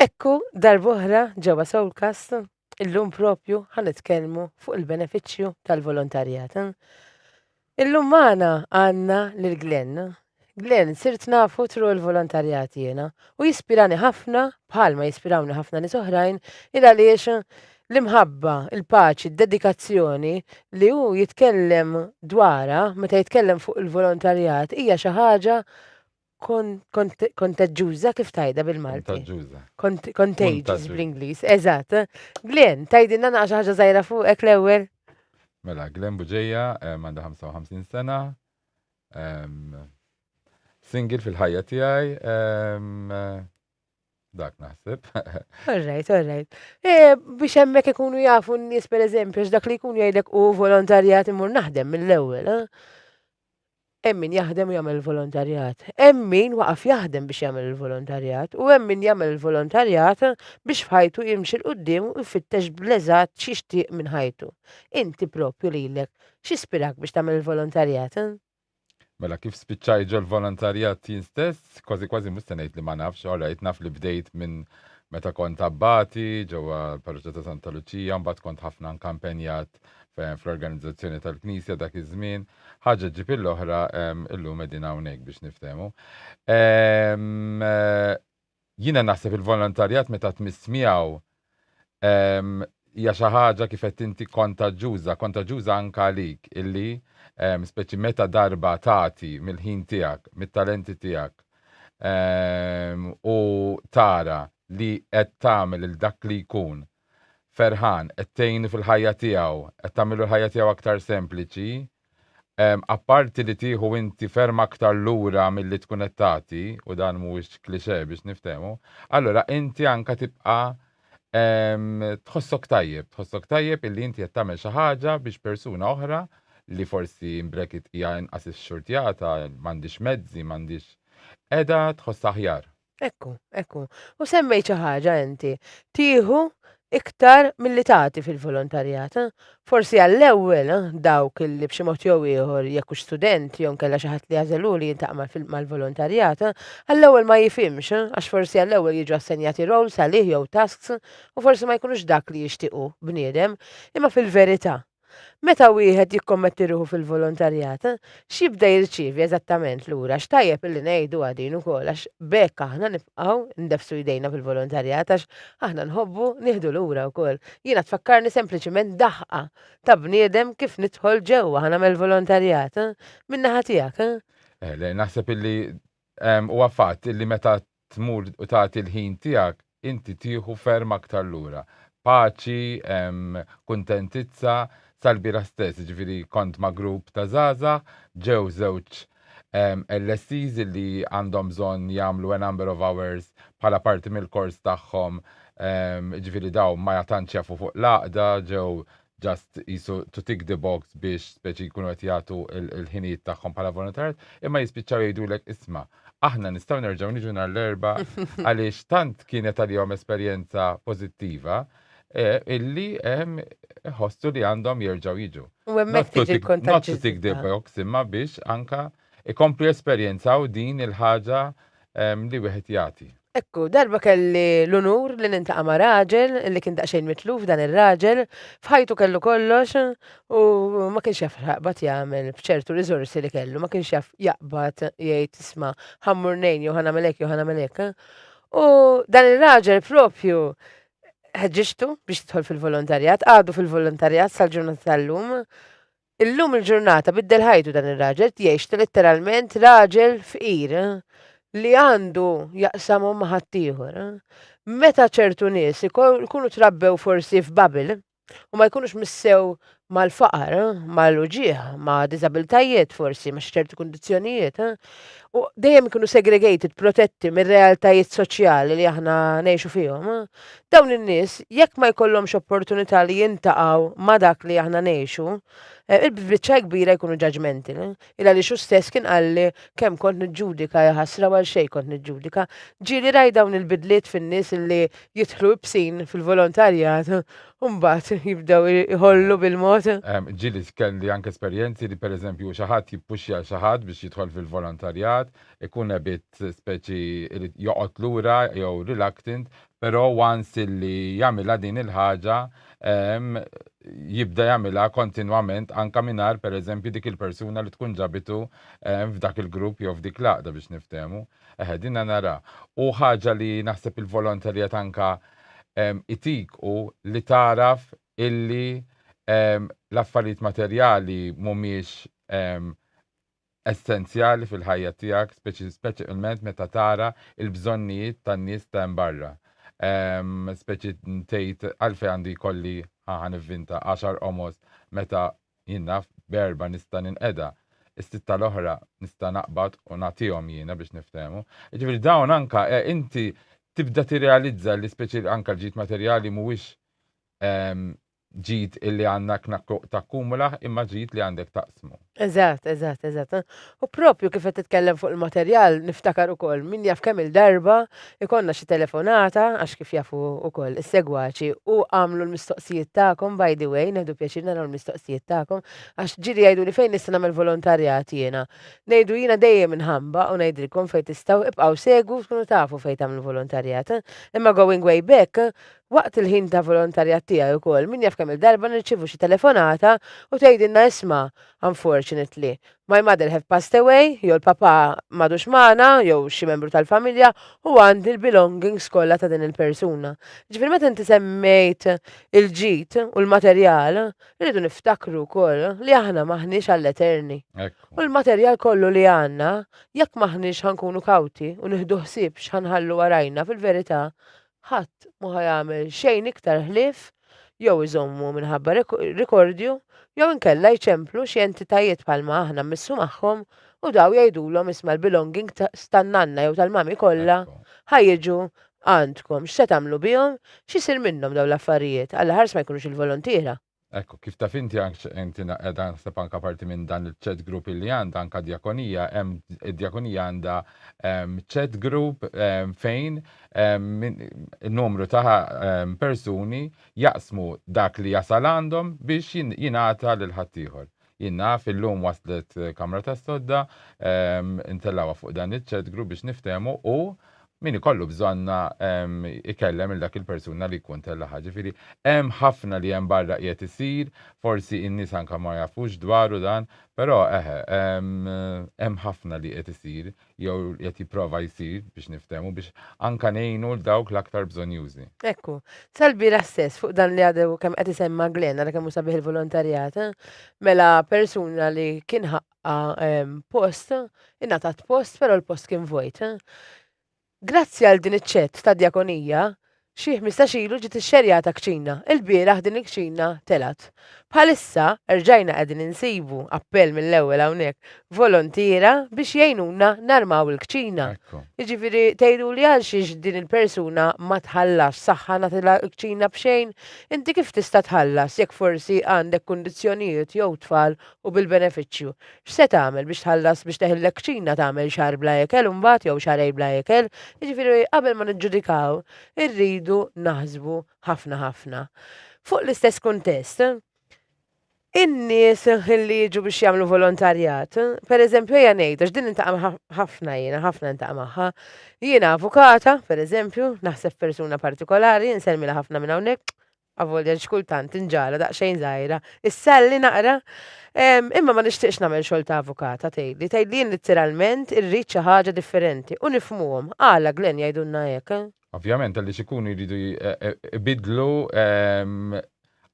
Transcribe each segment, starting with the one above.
Ekku darb'oħra ġewwa Soulcast illum propju ħa nitkellmu fuq il-benefiċċju tal-volontarjat. Illum magħna għandna lil Glenn. Glenn, sirt nafu tru l-volontarjat jiena u jispirani ħafna bħalma jispirawni ħafna nies oħrajn il għaliex L-imħabba, il-paċi, d-dedikazzjoni li hu jitkellem dwarha meta jitkellem fuq il-volontarjat hija xi ħaġa kontaġġuża kif tajda bil-Malti. Kontaġġuża. Contagious bl-Ingliż, eżatt. Glenn, tajdinna naqra xi ħaġa żgħira fuqek l-ewwel? Mela, Glenn Buġeja għandha 55 sena. Single fil-ħajja tiegħi. Dak naħseb. Alright, alright. Eh, biex hemmhekk ikunu jafu n-nies pereżempju dak li jkun jgħidlek u volontarjat imur naħdem mill-ewwel, eh? Emmin jaħdem u jagħmel volontarjat. Emmin waqaf jaħdem biex jagħmel il-volontarjat u emmin jagħmel il-volontarjat biex fħajtu jimxi l qudiem u jfittex bl-eżatt x'jixtieq minn ħajtu. Inti propju lilek x'ispirak biex tagħmel il-volontarjat? Eh? Mela kif spiċċajt ġol-volontarjat jien stess, kważi kważi mhux se ngħid li ma nafx, all right, naf li bdejt minn meta kont abbati ġewwa l-parroċċa ta' Santa Luċija, mbagħad kont ħafna anke impenjat fl-organizzazzjoni tal-Knisja dak iż-żmien. Ħaġa ġġib il-oħra ehm, illum qegħdin hawnhekk biex niftehmu. Ehm, Jiena naħseb il-volontarjat meta tmiss miegħu hija xi ħaġa kif qed inti kontaġġuża, kontaġġuża anke għalik illi speċi meta darba tagħti mill-ħin tiegħek, mit-talenti tiegħek u tara li qed tagħmel lil dak li jkun ferħan, qed tgħinu fil-ħajja tiegħu, qed tagħmillu l-ħajja tiegħu aktar sempliċi, Apparti li tieħu inti ferm aktar lura milli tkun qed tagħti, u dan mhuwiex cliché biex niftehmu, allura inti anke tibqa' tħossok tajjeb, tħossok tajjeb illi inti qed tagħmel xi ħaġa biex persuna oħra li forsi in bracket hija inqas ixxurtjata, m'għandhiex mezzi, m'għandhiex, qiegħda tħossha aħjar. Ekku, ekku. U semmejt xi ħaġa inti. Tieħu iktar milli tagħti fil-volontarjat. Eh? Forsi għall-ewwel eh, dawk li b'xi mod jew ieħor jekk hux student jew nkella xi ħadd li jażelu li jintaq mal-volontarjat, eh, għall-ewwel ma jifhimx eh, għax forsi għall-ewwel jiġu assenjati roles għalih jew tasks u forsi ma jkunux dak li jixtiequ bniedem, imma fil-verità Meta wieħed jikkommetti ruħu fil-volontarjat, x'jibda jirċievi eżattament lura? X'tajjeb illi ngħidu għadin ukoll għax b'hekk aħna nibqgħu ndefsu jdejna fil-volontarjat għax aħna nħobbu nieħdu lura wkoll. Jiena tfakkarni sempliċiment daħqa ta' bniedem kif nidħol ġewwa aħna mill-volontarjat. Min-naħa tiegħek? Eh, naħseb illi huwa fatt illi meta tmur u tagħti l-ħin tiegħek, inti tieħu ferm aktar lura. Paċi, kuntentizza, sal-bieraħ stess, jiġifieri kont ma' grupp ta' żgħażagħ, ġew żewġ LSEs li għandhom bżonn jagħmlu a number of hours bħala parti mill-kors tagħhom, jiġifieri dawn ma tantx jafu fuq l-għaqda, ġew ġast qisu to tick the box biex speċi jkunu qed jagħtu l-ħinijiet tagħhom bħala volontarjat, imma jispiċċaw jgħidulek isma' aħna nistgħu nerġgħu niġu nhar l-erba' għaliex tant kienet għalihom esperjenza pożittiva eh, illi ehm, ħossu li għandhom jerġgħu jiġu. U hemmhekk Not to tiġi tick- Not to tick the l-kontaġġiżità. box imma biex anka ikomplu jesperjenzaw din il-ħaġa li wieħed jagħti. Hekk hu, darba kelli l-unur li niltaqa' ma' raġel li kien daqsxejn mitluf, dan ir-raġel f'ħajtu kellu kollox u ma kienx jaf x'jaqbad jagħmel b'ċertu riżorsi li kellu, ma kienx jaf jaqbad jgħid isma' ħa mmur ngħin jew ħa nagħmel hekk jew ħa nagħmel hekk. U dan ir-raġel proprju ħeġġiġtu biex jidħol fil-volontarjat, għadu fil-volontarjat sal-ġurnata tal-lum, Illum il-ġurnata biddel ħajtu dan ir-raġel qed jgħix letteralment raġel fqir li għandu jaqsamhom ma' ħaddieħor. Meta ċertu nies ikunu trabbew forsi f'bubble u ma jkunux missew mal-faqar, mal-uġigħ, ma' diżabiltajiet forsi, ma' xi ċerti kundizzjonijiet, u dejjem ikunu segregated, protetti mir-realtajiet soċjali li aħna ngħixu fihom, Dawn in-nies jekk ma jkollhomx opportunità li jintaqgħu ma' dak li aħna ngħixu, eh, il-biċċa kbira jkunu ġaġmenti. Il għaliex hu stess kien qalli kemm kont niġġudika, ja ħasra u għal xejn kont niġġudika. Ġieli rajt dawn il-bidliet fin-nies illi jidħlu ibsin fil-volontarjat u mbagħad jibdew iħollu bil-mod. Ehm, ġieli kelli anke esperjenzi li pereżempju xi ħadd jippuxxja xi ħadd biex jidħol fil-volontarjat, ikun ebit speċi irid joqgħod lura jew reluctant, però once illi jagħmilha din il-ħaġa ehm, jibda jagħmilha kontinwament anke mingħajr pereżempju dik il-persuna li tkun ġabitu ehm, f'dak il-grupp jew f'dik l-għaqda biex niftehmu. Eħe, dinha nara. U ħaġa li naħseb il-volonterjat anke ehm, itik u li taraf illi ehm, l-affarijiet materjali mhumiex ehm, essenzjali fil-ħajja tiegħek, speċjalment meta tara l-bżonnijiet tan-nies ta' hemm barra. Speċi tgħid għalfejn għandi jkolli ħa nivvinta għaxar qomos meta jien naf b'erba' nista' ninqeda, is-sitta l-oħra nista' naqbad u nagħtihom jiena biex niftehmu. Jiġifieri dawn anke inti tibda tirrealizza li speċi anke l-ġid materjali mhuwiex ġid illi għandna kna takkumulaħ imma ġid li għandek taqsmu. Eżatt, eżatt, eżatt. U propju kif qed titkellem fuq il-materjal niftakar ukoll min jaf kemm il-darba ikollna xi telefonata għax kif jafu ukoll is-segwaċi u għamlu l-mistoqsijiet tagħkom by the way neħdu pjaċir naraw l-mistoqsijiet tagħkom għax ġieli jgħiduli fejn nista' nagħmel volontarjat jiena. Ngħidu jiena dejjem inħamba u ngħidilkom fejn tistgħu ibqgħu segwu tkunu tafu fejn tagħmlu volontarjat. Imma going way back Waqt il-ħin ta' volontarjat tiegħi wkoll, min jaf kemm-il darba nirċievu xi telefonata u tgħidilna isma', unfortunately, my mother have passed away, jew il-papà m'għadux magħna, jew xi membru tal-familja, u għandi l-belongings kollha ta' din il-persuna. Jiġifieri meta inti semmejt il-ġid u l-materjal, irridu niftakru wkoll li aħna m'aħniex għall-eterni. U l-materjal kollu li għandna, jekk m'aħniex ħa nkunu kawti u nieħdu ħsieb x'ħa nħallu warajna, fil-verità, Ħadd ma ħa jagħmel xejn iktar ħlief jew iżommu minħabba rikordju jew inkella jċemplu xi entitajiet bħalma aħna mmissu magħhom u daw jgħidulhom isma' l-belonging s tan-nanna jew tal-mami kollha ħa jiġu għandkom x'se tagħmlu bihom x'isir minnhom dawn l-affarijiet għall-aħħars ma jkunux il-volontiera. Ekku, kif taf inti ank inti qiegħda naħseb anke parti minn dan il-chat group li għandha anke djakonija, hemm id-djakonija għandha ehm, chat group ehm, fejn ehm, numru ta' persuni jaqsmu dak li jasal għandhom biex jingħata lil ħaddieħor. Jien naf illum waslet kamra tas-sodda, intellgħuha fuq dan iċ-chat group biex niftehmu u min ikollu bżonna ikellem il dak il-persuna li jkun tellaha. Ġifiri, hemm ħafna li hemm barra qiegħed isir, forsi in-nies anka ma jafux dwaru dan, però eħe, hemm ħafna li qiegħed isir jew qed jipprova jsir biex niftehmu biex anke ngħinu lil dawk l-aktar bżonjużi. Ekku. Sal-bieraħ stess fuq dan li għadu kemm qed isemma' Glenn, ara kemm hu sabiħ il-volontarjat, mela persuna li kien ħaqqha post, ingħatat post però l-post kien vojt. Grazzi għal din iċ-ċett ta' djakonija, Xi ħmistax ilu ġiet ixxerjata kċina. Ilbieraħ din il-kċina telgħet. Bħalissa erġajna qegħdin insibu, appell mill-ewwel hawnhekk, volontiera biex jgħinuna narmaw il-kċina. Jiġifieri tgħiduli għalxiex din il-persuna ma tħallasx, saħħa nagħtilha l-kċina b'xejn? Inti kif tista' tħallas jekk forsi għandek kundizzjonijiet jew tfal u bil-benefiċċju. X'se tagħmel biex tħallas biex teħi l-lekċina tagħmel xahar bla ikel u mbagħad jew xahrejn bla ikel? Jiġifieri qabel ma niġġudikaw irridu naħsbu ħafna ħafna. Fuq l-istess kuntest, in-nies li jiġu biex jagħmlu volontarjat, pereżempju ejja ngħid għax din intaqa' ħafna jiena, ħafna intaqa' magħha. Jiena avukata, pereżempju, naħseb persuna partikolari, insellmilha ħafna minn hawnhekk, Avolja xi kultant tinġara daqsxejn żgħira, issalli naqra. Imma ma nixtieqx nagħmel xogħol ta' avukata, tgħidli. Tgħidli jien littiralment irrid xi ħaġa differenti u nifhmuhom. Għala, Glenn, jgħidulna hekk, eh? Ovvjament għaliex ikunu jridu jbiddlu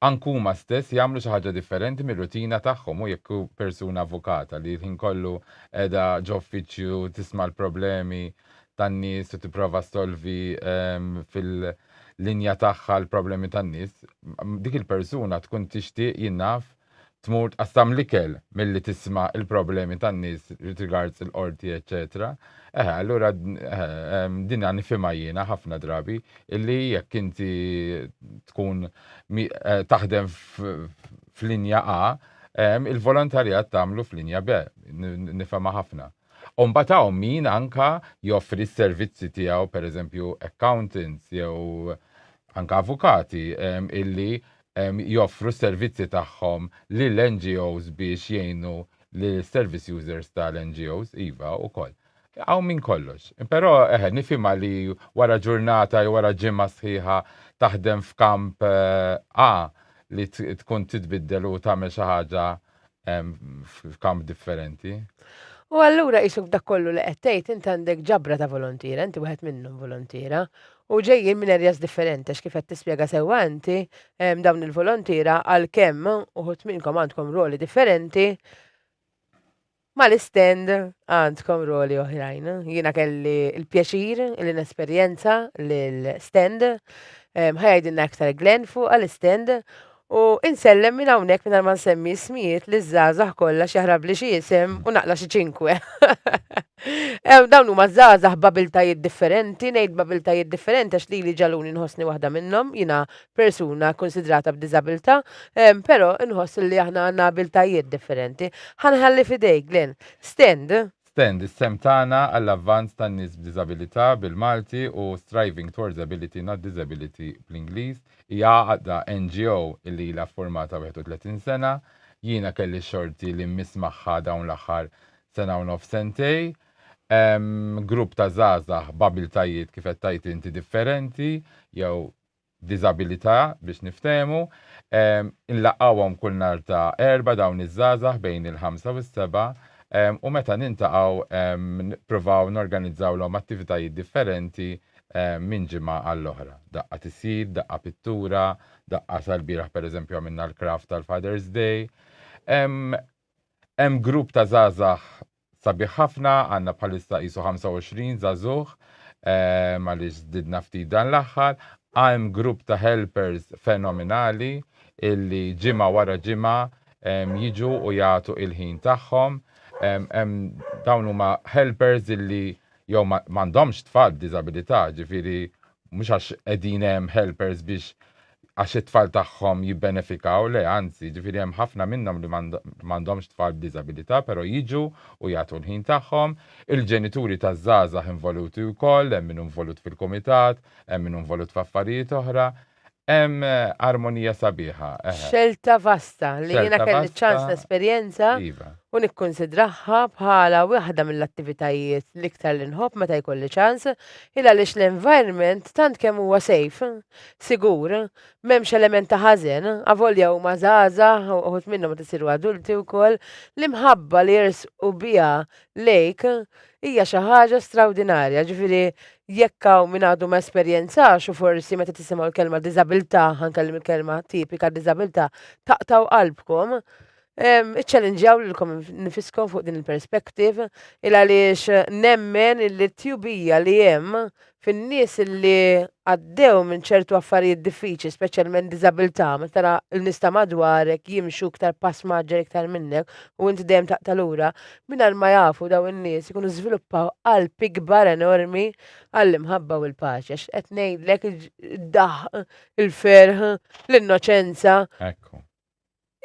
anke huma stess, jagħmlu xi ħaġa differenti mir-rutina tagħhom u jekk hu persuna avukata li l-ħin kollu qiegħda ġo uffiċċju tisma' l-problemi tan-nies u tipprova ssolvi fil-, linja tagħha l-problemi tan-nies, dik il-persuna tkun tixtieq jien naf tmur tqassam l-ikel milli tisma' l-problemi tan-nies with regards il-qorti eċċetera. Eħe, allura eħe, dinha nifhimha jiena ħafna drabi illi jekk inti tkun eh, taħdem f'linja A, il-volontarjat tagħmlu f'linja B. Nifhemha ħafna. U mbagħad hawn min anka joffri s-servizzi tiegħu, pereżempju accountants jew anka avukati ehm, illi ehm, joffru s-servizzi tagħhom lil NGOs biex jgħinu l-service users tal-NGOs, iva, ukoll. Hawn minn kollox. Però eħe, nifhimha li wara ġurnata jew wara ġimgħa sħiħa taħdem f'kamp eh, A li t- tkun titbiddel u tagħmel xi ħaġa f'kamp differenti. U allura jisuk dak kollu li qed tgħid int għandek ġabra ta' volontiera, inti wieħed minnhom volontiera, u ġejjin minn areas differenti għax kif qed tispjega sewwa inti dawn il-volontiera għalkemm uħud minnkom għandkom rwoli differenti, Mal-istand għandkom roli oħrajn. Jiena kelli l-pjaċir li nesperjenza l-stand, ħa jgħidilna iktar Glenn fuq għall-istand, u insellem minn hawnhekk mingħajr ma nsemmi ismijiet liż-żgħażagħ kollha x'jaħrabli xi isem u naqla' xi ċinkwe. Dawn huma żgħażagħ b'abiltajiet differenti, ngħid b'abiltajiet differenti għax lili ġagħluni nħossni waħda minnhom, jiena persuna kkunsidrata b'diżabilità, però inħoss li aħna għandna abiltajiet differenti. Ħa nħalli f'idejk, Glenn. Stand. Stand, is-sehem tagħna għall-avvanz tan-nies b'diżabilità, bil-Malti, u Striving Towards Ability Not Disability, bl-Ingliż, hija għaqda, NGO, li ilha ffurmata 31 sena. Jiena kelli x-xorti li mmiss magħha dawn l-aħħar sena u nofs sentej. Hemm grupp ta' żgħażagħ b'abiltajiet, kif qed tgħid inti, differenti, jew diżabilità biex niftehmu, inlaqgħuhom kull nhar ta' Erbgħa dawn iż-żgħażagħ bejn il-ħamsa u s-sebgħa u meta niltaqgħu nippruvaw norganizzawlhom attivitajiet differenti minn ġimgħa għall-oħra. Daqqa tisjid, daqqa pittura, daqqa sal-bieraħ pereżempju għamilna l-craft tal-Father's Day. Hemm grupp ta' żgħażagħ Sabiħ ħafna, għandna bħalissa qisu 25 żagħżugħ, ehm, għaliex żdidna ftit dan l-aħħar, hemm grupp ta' helpers fenominali illi ġimgħa wara ġimgħa ehm, jiġu u jagħtu il-ħin tagħhom. Ehm, hemm dawn huma helpers illi jew ma ma għandhomx tfal b'diżabilità, ġifieri mhux għax qegħdin hemm helpers biex għax it-tfal tagħhom jibbenefikaw, le anzi, jiġifieri hemm ħafna minnhom li m'għandhomx tfal b'diżabilità però jiġu u jagħtu l-ħin tagħhom, il-ġenituri taż-żgħażagħ involuti wkoll, hemm min hu involut fil-kumitat, hemm min hu involut f'affarijiet oħra, hemm armonija sabiħa, eħe. Xelta vasta li jiena kelli ċ-ċans nesperjenza u nikkunsidraha bħala waħda mill-attivitajiet l-iktar li nħobb meta jkolli ċans, il għaliex l-environment tant kemm huwa safe. Sigur, m'hemmx element ta' ħażen, avolja huma żgħażagħ u uħud minnhom qed isiru adulti wkoll, l-imħabba li jersqu biha lejk hija xi ħaġa strawdinarja. Ġifieri jekk hawn min għadu ma esperjenzax u forsi meta tisimgħu l-kelma diżabilità, ħa nkellem il-kelma tipika diżabilità, taqtgħu qalbkom, Iċċallinġjaw lilkom nifiskom fuq din il-perspective il għaliex nemmen illi t-tjubija li hemm fin-nies illi għaddew minn ċertu affarijiet diffiċli, speċjalment diżabilità, meta tara l-nies ta' madwarek jimxu iktar pass maġġer iktar minnek u inti dejjem taqta' lura, mingħajr ma jafu daw in-nies ikunu żviluppaw qalb ikbar enormi għall-imħabba u l-paċi. Għax qed ngħidlek id-daħq, il-ferħ, l-innoċenza. Ekku.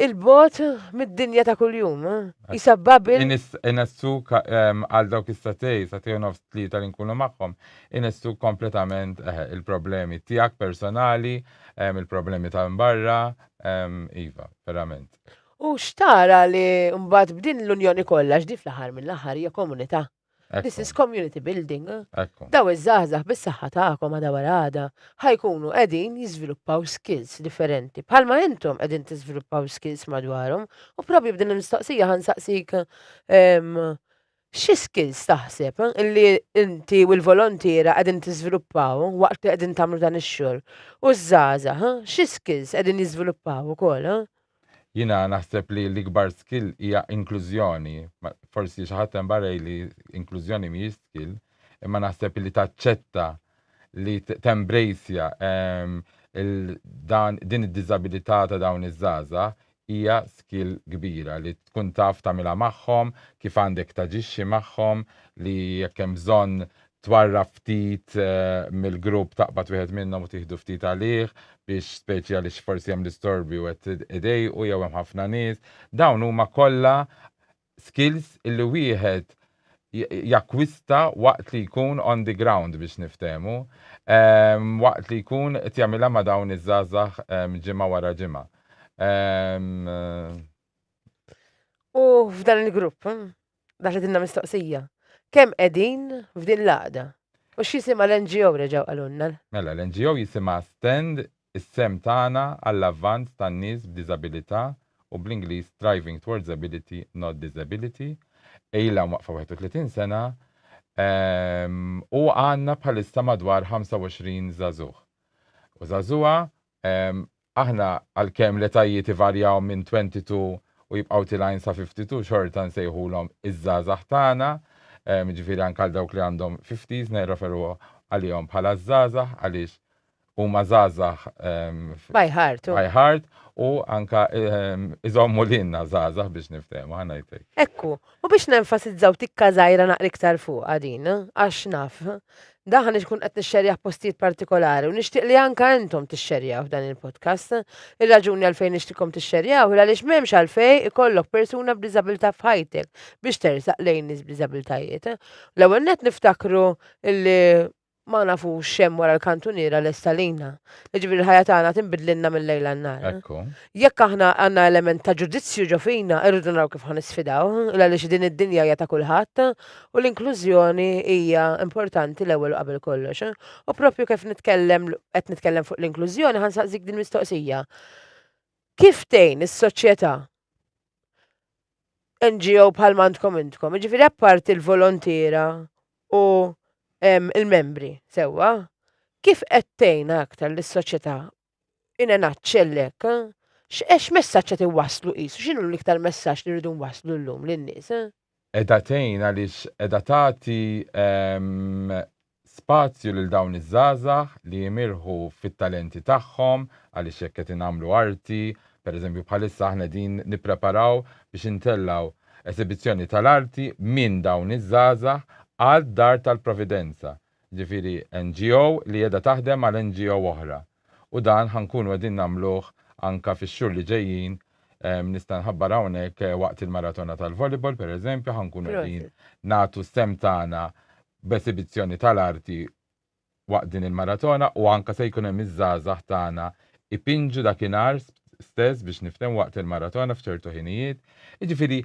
il-bot mid-dinja ta' kuljum, jisa eh? Babil. Inestu ehm, għal dawk istatej, satej u nofs tlieta li nkunu magħhom, inestu kompletament eh, il-problemi tiegħek personali, ehm, il-problemi ta' mbarra, ehm, iva, verament. U xtara li mbagħad b'din l-Unjoni kollha x'di fl-aħħar mill-aħħar hija komunità. This is community building. Daw iż-żgħażagħ bis-saħħa tagħkom għada wara għada ħa jkunu qegħdin jiżviluppaw skills differenti bħalma intom qegħdin tiżviluppaw skills madwarhom u probably b'din il-mistoqsija ħa nsaqsik ehm, xi skills taħseb eh, illi inti u l-volontiera qegħdin tiżviluppaw waqt li qegħdin tagħmlu dan ix-xogħol. U ż-żgħażagħ, eh, xi skills qegħdin jiżviluppaw ukoll. Eh? Jiena naħseb li l-ikbar skill hija inklużjoni. Forsi xi ħadd hemm barra jgħidli inklużjoni mhijiex skill, imma naħseb li taċċetta li tembrejsja ehm, dan din id-diżabilità ta' dawn iż-żgħażagħ hija skill kbira li tkun taf tagħmilha magħhom, kif għandek taġixxi magħhom, li jekk hemm bżonn Twarrab ftit mill-grupp, taqbad wieħed minnhom u tieħdu ftit għalih biex speċi għaliex forsi hemm l-istorbi u qed idejqu jew hemm ħafna nies. Dawn huma kollha skills illi wieħed jakkwista waqt li jkun on the ground biex niftehmu, waqt li jkun qed jagħmilha ma' dawn iż-żgħażagħ ġimgħa wara ġimgħa. U f'dan il-grupp, Daħlet inna mistoqsija. Kemm qegħdin f'din l-għaqda? U x'jisimha l-NGO reġgħu qalulna? Mela, l-NGO jisimha Stand, is-sehem tagħna għall-avvanz tan-nies b'diżabilità u bl-Ingliż Striving Towards Ability Not Disability, ilha mwaqqfa 31 sena u għandna bħalissa madwar 25 żagħżugħ u żagħżugħa Aħna, għalkemm l-etajiet ivarjaw minn 22 u jibqgħu tilgħin sa 52, xorta nsejħulhom iż-żgħażagħ tagħna, jiġifieri anke għal dawk li għandhom 50s nirreferu għalihom bħala ż-żgħażagħ għaliex huma żgħażagħ By heart. by heart u anke iżommu lilna żgħażagħ biex niftehmu, ħa ngħid hekk. Hekk hu, U biex nenfasizzaw tikka żgħira naqra iktar fuqha din, għax naf, dan ħa ikun qed nixxerjah postijiet partikolari u nixtieq li anke intom tixxerjawh dan il-podcast. Ir-raġuni għalfejn nixtiqkom tixxerjawh hi għaliex m'hemmx għalfejn ikollok persuna b'diżabilità f'ħajtek biex tersaq lejn nies b'diżabilitajiet. L-ewwel nett niftakru li Ma nafux x'hemm wara l-kantuniera lesta lina. Jiġifieri l-ħajja tagħna tinbidlilna mil-lejl għan-nhar. Ekku. Jekk aħna għandna element ta' ġudizzju ġo fina, irridu naraw kif ħa nisfidaw, għaliex din id-dinja hija ta' kulħadd u l-inklużjoni hija importanti l-ewwel u qabel kollox. U proprju kif nitkellem, qed nitkellem fuq l-inklużjoni, ħa nsaqsik dil-mistoqsija. Kif tgħin is-soċjetà NGO bħal mandkom intkom, ġifiri apparti l-volontiera u il-membri, sewa, kif għettejna aktar l-soċieta in a nutshell hekk, x'għex messaġġ qed iwasslu qisu, x'inhu l-iktar messaġġ li rridu nwasslu llum lin-nies? Qiegħda tgħin għaliex qiegħda tagħti spazju lil dawn iż-żgħażagħ li jimirħu fit-talenti tagħhom għaliex jekk qed ingħamlu arti, pereżempju bħalissa aħna qegħdin nippreparaw biex intellgħu esibizzjoni tal-arti minn dawn iż-żgħażagħ għal Dar tal-Providenza, jiġifieri NGO li qiegħda taħdem għal NGO oħra. U dan ħa nkunu qegħdin nagħmluh anke fix-xhur li ġejjin, nista' nħabbar hawnhekk waqt il-Maratona tal-Volleyball pereżempju ħa nkunu qegħdin nagħtu s-sehem tagħna b'esibizzjoni tal-arti waqt din il-maratona u anke se jkun hemm iż-żgħażagħ tagħna ipinġu dakinhar stess biex niftehmu waqt il-maratona f'ċertu ħinijiet. Jiġifieri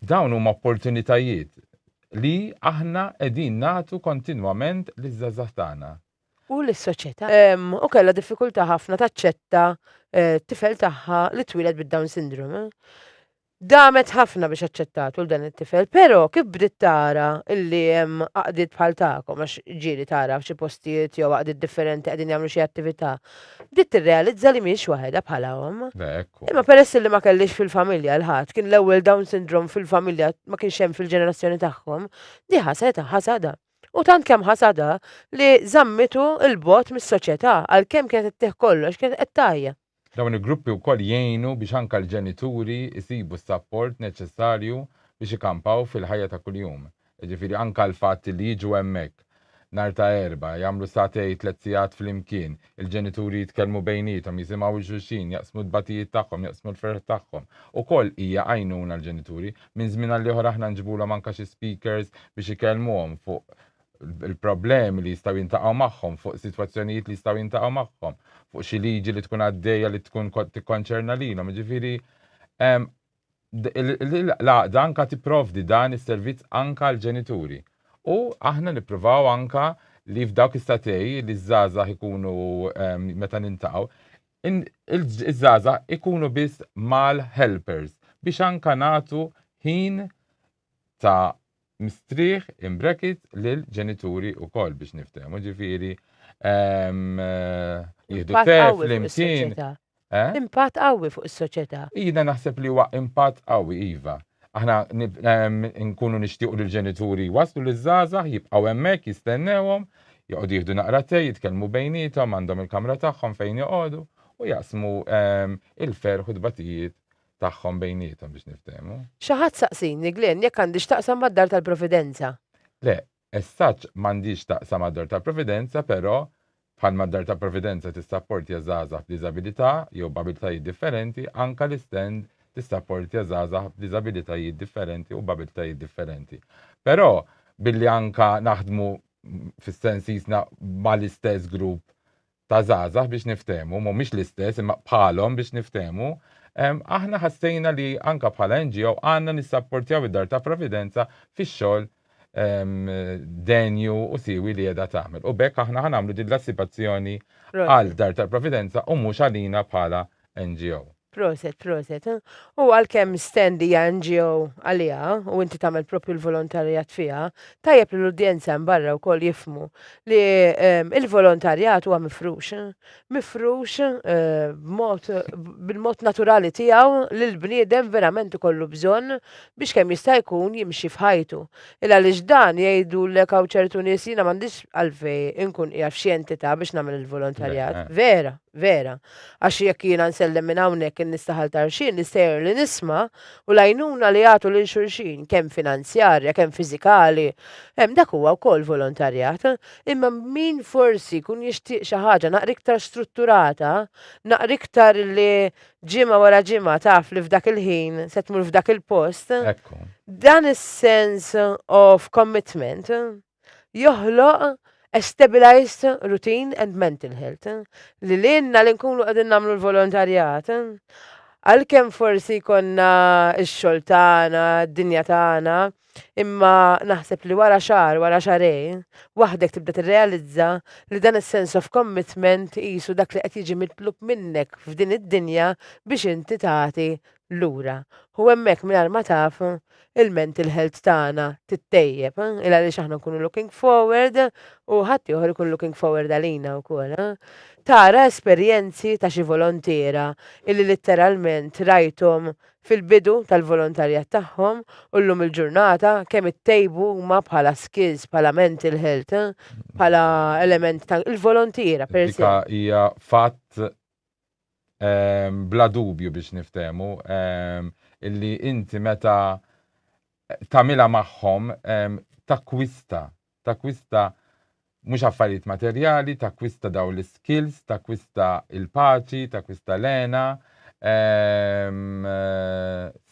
dawn huma opportunitajiet li aħna qegħdin nagħtu kontinwament liż-żgħażagħ tagħna. U lis-soċjetà. U kellha diffikultà ħafna taċċetta t-tifel tagħha li twieled bid-Down Syndrome. Damet ħafna biex aċċettatu 'l dan it-tifel, pero' kif bdiet tara illi hemm għaqdiet bħal tagħkom, għax ġieli tara f'xi postijiet jew għaqdiet differenti qegħdin jagħmlu xi attivita', bdiet tirrealizza li mhiex waħedha bħala omm. Imma peress illi ma kellhiex fil-familja 'l ħadd, kien l-ewwel Down Syndrome fil-familja ma kienx hemm fil-ġenerazzjoni tagħhom, di ħasdha, ħasadha. U tant kemm ħasadha li żammitu 'l bogħod mis-soċjeta', għalkemm kienet ittih kollox, kienet qed tgħajja. Dawn il-gruppi wkoll jgħinu biex anke l-ġenituri jsibu s-sapport neċessarju biex ikampaw fil-ħajja ta' kuljum. Jiġifieri anke l-fatt li jiġu hemmhekk nhar ta' Erbgħa, jagħmlu sagħtej, tliet sigħat flimkien, il-ġenituri jitkellmu bejniethom, jisimgħu 'l xulxin, jaqsmu d-dbatijiet tagħhom, jaqsmu l-ferħ tagħhom, ukoll hija għajnuna għall-ġenituri. Minn żmien għall-ieħor aħna nġibulhom anke xi speakers biex ikellmuhom fuq il-problemi li jistgħu jintaqgħu magħhom, fuq sitwazzjonijiet li jistgħu jintaqgħu magħhom, fuq xi liġi li tkun għaddejja li tkun tikkonċerna lilhom. Jiġifieri l-għaqda anka tipprovdi dan is-servizz anka għal ġenituri. U aħna nippruvaw anka li f'dawk is-satej li ż-żgħażagħ ikunu meta nintaqgħu, iż-żgħażagħ ikunu biss mal-helpers biex anka nagħtu ħin ta' mistrieħ in brackets lil ġenituri wkoll biex niftehmu, ġifieri ehm, jieħdu Impatt tef qawwi fuq flimkien. is-soċjetà. Eh? Impatt qawwi fuq is-soċjetà. Jiena naħseb li huwa impatt qawwi iva. Aħna nib- ehm, nkunu nixtiequ li l-ġenituri waslu li żgħażagħ jibqgħu hemmhekk jistennewhom, joqogħdu jieħdu naqra te, jitkellmu bejniethom, għandhom il-kamra tagħhom fejn joqogħdu u jaqsmu ehm, il-ferħ u t-tbatijiet tagħhom bejniethom biex niftehmu. Xi ħadd saqsini, Glenn, jekk għandix taqsam mad-Dar tal-Providenza. Le, as such m'għandhiex taqsam mad-Dar tal-Providenza, però bħalma d-Dar tal-Providenza tissapportja żgħażagħ b'diżabilità jew b'abiltajiet differenti, anke l-istand tissapportja żgħażagħ b'diżabilitajiet differenti u b'abiltajiet differenti. Però billi anke naħdmu fis-sens qisna mal-istess grupp ta' żgħażagħ biex niftehmu, mhumiex l-istess imma bħalhom biex niftehmu, aħna ħassejna li anke bħala NGO għandna nissapportjaw id-Dar ta' Providenza fix-xogħol denju u siewi li qiegħda tagħmel. U b'hekk aħna ħa nagħmlu din l-assipazzjoni għal Dar tal-Providenza u mhux għalina bħala NGO. Proset, proset. U għalkemm Stand hija NGO għaliha u inti tagħmel proprju l-volontarjat fiha, tajjeb li l-udjenza hemm barra wkoll jifhmu li l-volontarjat huwa mifrux. Mifrux b'mod bil-mod naturali tiegħu li l-bniedem verament ikollu bżonn biex kemm jista' jkun jimxi f'ħajtu. Ilgħaliex dan jgħidulek hawn ċertu nies jiena m'għandix għalfejn inkun qiegħed f'xi entità biex nagħmel il-volontarjat. Vera, vera. Għax jekk jiena nsellem minn hawnhekk in-nistaħal ta' rxien nistgħer li nisma' u l-għajnuna li jagħtu lil xulxin, kemm finanzjarja, kemm fiżikali, hemm dak huwa wkoll volontarjat. Imma min forsi jkun jixtieq xi ħaġa naqra iktar strutturata, naqra iktar li ġimgħa wara ġimgħa taf li f'dak il-ħin se tmur f'dak il-post, dan is-sense of commitment, joħloq a stabilized routine and mental health. Li lilna li nkunu qegħdin nagħmlu l-volontarjat, għalkemm forsi jkollna x-xogħol tagħna, d-dinja tagħna, imma naħseb li wara xahar, wara xahrejn, waħdek tibda tirrealizza li dan is-sense of commitment qisu dak li qed jiġi mitlub minnek f'din id-dinja biex inti tagħti lura u hemmhekk mingħajr ma taf il-mental health tagħna tittejjeb il għaliex aħna nkunu looking forward u ħaddieħor ikun looking forward għalina wkoll. Tara esperjenzi ta' xi volontiera illi litteralment rajthom fil-bidu tal-volontarjat tagħhom u llum il-ġurnata kemm ittejbu huma bħala skills, bħala mental health, bħala element ta' il-volontiera per se. Dik hija fatt bla dubju biex niftehmu, illi inti meta tagħmilha magħhom takkwista, takkwista mhux affarijiet materjali, takkwista dawn l-iskills, takkwista l-paċi, takkwista l-hena,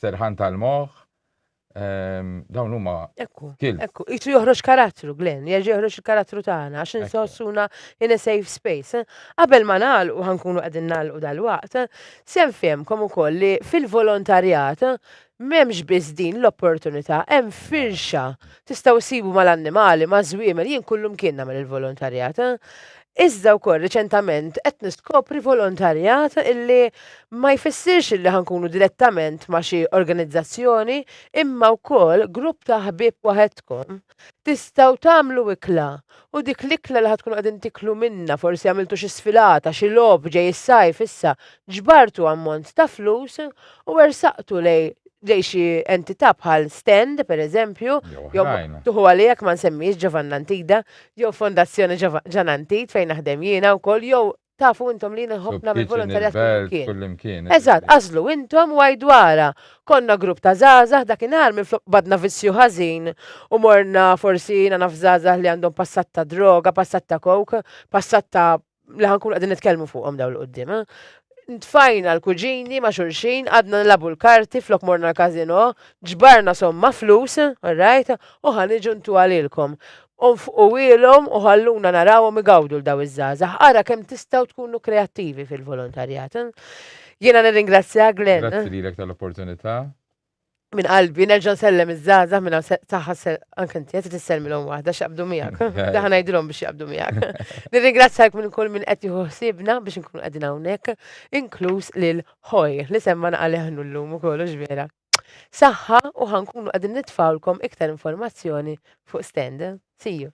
serħan tal-moħħ, Ehm, dawn huma. Ekku, ekku, jisu joħroġ karattru, Glenn, jerġa' joħroġ il-karattru tagħna għax insossuna in a safe space. Eh? Qabel ma nagħlqu ħankunu qegħdin nagħlqu dal-waqt, eh? sem fehmkom ukoll li fil-volontarjat eh? m'hemmx biss din l-opportunità, hemm firxa. Tistgħu sibu mal-annimali, ma' żwiemel, jien kullum kien nagħmel il-volontarjat. Iżda wkoll riċentament qed niskopri volontarjat illi ma jfissirx illi ħankunu direttament ma' xi organizzazzjoni imma wkoll grupp ta' ħbieb waħedkom tistgħu tagħmlu ikla u dik l-ikla li ħa tkunu qegħdin tiklu minnha forsi għamiltu xi sfilata, xi logħob ġej is-sajf issa ġbartu ammont ta' flus u ersaqtu lej lej xi entità bħal Stand pereżempju jew tieħu għalija jekk ma nsemmix Ġovann Antida jew Fondazzjoni Ġan Antit fejn naħdem jiena wkoll jew tafu intom li nħobb nagħmel volontarjat kullimkien. Eżatt, għażlu intom u għajdu ara. Konna grupp ta' żgħażagħ dakinhar minflok badna vizzju ħażin u morna forsi jiena naf żgħażagħ li għandhom passat ta' droga, passat ta' coke, passat ta' li ħankun qegħdin nitkellmu fuqhom dawn l-qudiem. Eh? Tfajna l-kuġini ma' xulxin, għadna nilabu l-karti flok morna l-kazino, ġbarna somma flus, alright, u ħaniġu ntu għalilkom. Unfqu ilhom u ħalluna narawhom igawdu l-daw iż-żgħażagħ. Ara kemm tistgħu tkunu kreattivi fil-volontarjat. Eh? Jiena nirringrazzja Glenn. Grazzi eh? lilek tal-opportunità. Min qalbi, nerġa' nsellem iż-żaza minn taħħa anke inti qed tissellmilhom waħda x'jaqbdu miegħek. Daħ ngħidilhom biex jaqbdu miegħek. Nirringrazzjak minn kull minn qed jieħu ħsiebna biex inkunu qegħdin hawnhekk, inkluż lil ħoj li semma naqaleħnu llum ukoll vera. Saħħa u ħankunu qegħdin nitfawlkom iktar informazzjoni fuq stand. See you.